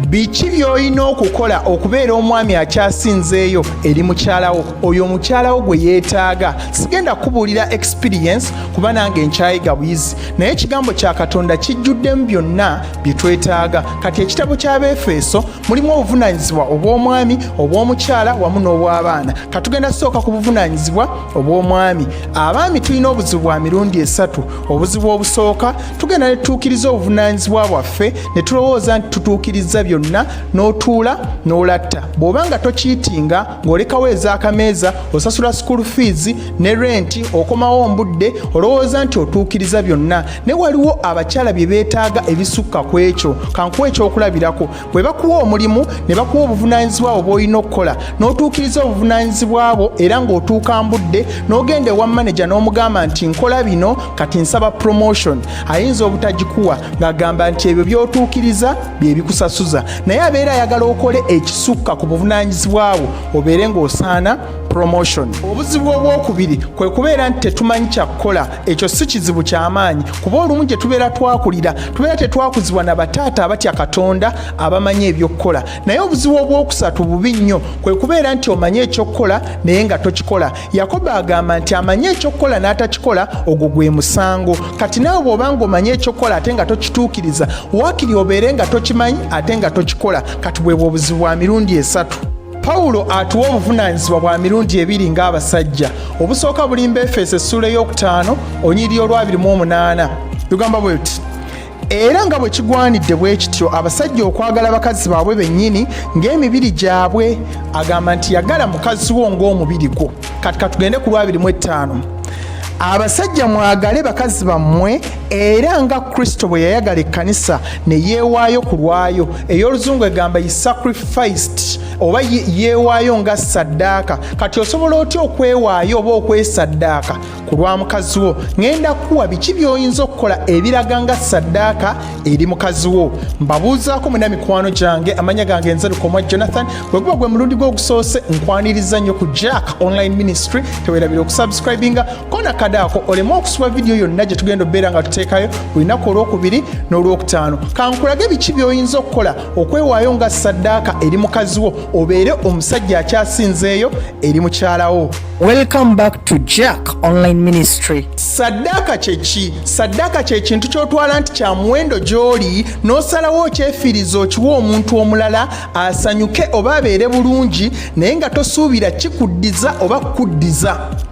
biki by'olina okukola okubeera omwami akyasinzeeyo eri mukyalawo oyo omukyalawo gwe yeetaaga sigenda kubuulira experience kuba nange nkyayiga buyizi naye ekigambo kya katonda kijjuddemu byonna bye twetaaga kati ekitabo ky'abeefeeso mulimu obuvunaanyizibwa obw'omwami obw'omukyala wamu n'obw'abaana katugenda kusooka ku buvunaanyizibwa obw'omwami abaami tulina obuzibu bwa mirundi esatu obuzibu obusooka tugenda ne tutuukiriza obuvunaanyizibwa bwaffe ne tulowooza nti tutuukirizza byonna n'otuula n'olatta bw'oba nga tokiitinga ng'olekawo ez'akameeza osasula school fees ne renti okomawo mbudde olowooza nti otuukiriza byonna ne waliwo abakyala bye beetaaga ebisukka ku ekyo kankuwa ekyokulabirako bwe bakuwa omulimu ne bakuwa obuvunaanyizibwa bwo bw'olina okukola n'otuukiriza obuvunaanyizibwa bwo era ng'otuuka mbudde n'ogenda ewa maneja n'omugamba nti nkola bino kati nsaba promotion ayinza obutagikuwa ng'agamba nti ebyo by'otuukiriza bye bikusasuza naye abeera ayagala okole ekisukka ku buvunaanyizibwa bwo obeere ng'osaana promotion obuzibu obwokubiri kwe kubeera nti tetumanyi kyakukola ekyo si kizibu kyamaanyi kuba olumu gye tubeera twakulira tubeera tetwakuzibwa na bataata abatya katonda abamanyi ebyokukola naye obuzibu obwokusatu bubi nnyo kwe kubeera nti omanyi ekyokukola naye nga tokikola yakobo agamba nti amanyi ekyokukola n'atakikola ogwo gwe musango kati nawe bw'obanga omanyi ekyokukola ate nga tokituukiriza waakiri obeere nga tokimanyi ate nga tokikola kati bwebwo obuzibu bwa mirundi esatu pawulo atuwa obuvunaanyizibwa bwa mirundi ebiri ng'abasajja obusooka bulimba efeeso essuula ey'okutaano onyiriri olwabiri mu omunaana lugamba bwe luti era nga bwe kigwanidde bwe kityo abasajja okwagala bakazi baabwe bennyini ng'emibiri gyabwe agamba nti yagala mukazi wo ng'omubiri gwo kati katugende ku lwabiri mu ettaano abasajja mwagale bakazi bammwe era nga kristo bwe yayagala ekkanisa ne yeewaayo ku lwayo ey'oluzungu egamba yi sacrificed oba yeewaayo nga saddaaka kati osobola otya okwewaayo oba okwesaddaaka ku lwa mukazi wo ŋenda kuwa biki by'oyinza okukola ebiraga nga saddaaka eri mukazi wo mbabuuzaako muna mikwano gyange amanya gange nze lukomwa jonathan bwe guba gwe mulundi gwe ogusoose nkwaniriza nnyo ku jack online ministry tewerabira okusubscribinga kona kadaako oleme okusiba vidiyo yonna gye tugenda obeera nga tuteekayo olunaku olwokubiri n'olwokutaano kankulage biki by'oyinza okukola okwewaayo nga saddaaka eri mukazi wo obeere omusajja akyasinzeeyo eri mukyalawo welcome back to jack online ministry saddaaka kyeki saddaaka kyekintu kyotwala nti kya muwendo gy'oli n'osalawo okyefiiriza okiwa omuntu omulala asanyuke oba abeere bulungi naye nga tosuubira kikuddiza oba kukuddiza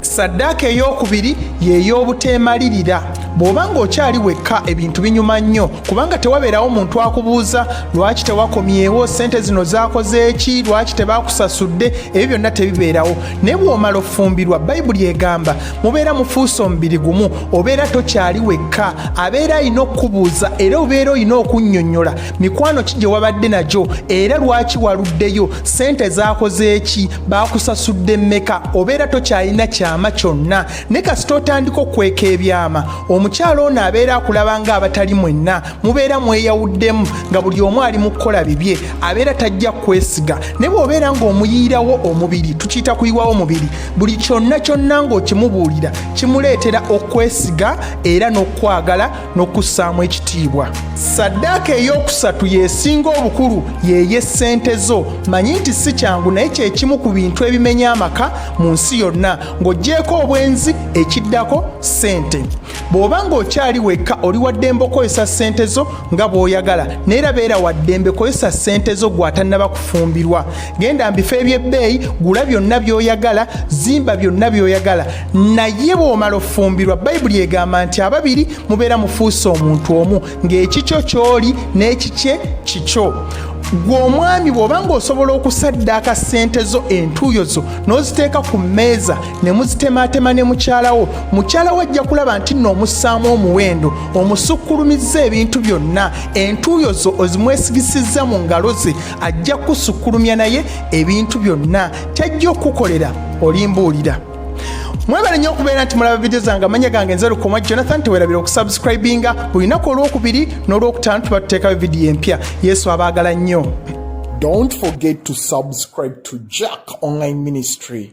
saddaaka ey'okubiri y'ey'obuteemalirira bw'oba ng'okyali wekka ebintu binyuma nnyo kubanga tewabeerawo muntu akubuuza lwaki tewakomyewo ssente zino zaakoze eki lwaki tebaakusasudde ebyo byonna tebibeerawo naye bw'omala ofumbirwa bayibuli egamba mubeera mufuuse omubiri gumu obeera tokyali wekka abeera alina okukubuuza era obeera olina okunnyonnyola mikwano ki gye wabadde nagyo era lwaki waluddeyo ssente zaakoze eki bakusasudde mmeka obeera tokyalina kyama kyonna ne kasita otandika okweka ebyama omukyala ono abeera akulaba nga abatali mwenna mubeera mweyawuddemu nga buli omu ali mu kukola bibye abeera tajja kwesiga ne bw'obeera ng'omuyiirawo omubiri tukiyita kuyiwawo omubiri buli kyonna kyonna ng'okimubuulira kimuleetera okwesiga era n'okukwagala n'okussaamu ekitiibwa saddaaka ey'okusatu y'esinga obukulu yeeye ssente zo manyi nti si kyangu naye kyekimu ku bintu ebimenya amaka mu nsi yonna ng'ogyeko obwenzi ekiddako ssente bw'oba ng'okyali wekka oli waddembe okozesa ssente zo nga bw'oyagala naye era beera waddembe kozesa ssente zo gw'atannaba kufumbirwa genda mbifo eby'ebbeeyi gula byonna by'oyagala zimba byonna by'oyagala naye bw'omala ofumbirwa bayibuli egamba nti ababiri mubeera mufuuse omuntu omu ng'ekikyo ky'oli n'ekikye kikyo gwe omwami bw'oba ng'osobola okusaddaaka ssente zo entuuyo zo n'oziteeka ku mmeeza ne muzitemaatema ne mukyalawo mukyalawo ajja kulaba nti nno omussaamu omuwendo omusukkulumizza ebintu byonna entuuyo zo ozimwesigisizza mu ngalo ze ajja kusukkulumya naye ebintu byonna kyajja okukukolera olimbuulira mwebale nnyo okubeera nti mulaba vidiyo zange amanya gange nze lukoma jonathan tewerabira okusubscribinga buli lunaku olwokubiri n'olwokutaano tuba tuteekayo vidiyo empya yesu abaagala nnyo Don't forget to subscribe to Jack Online Ministry.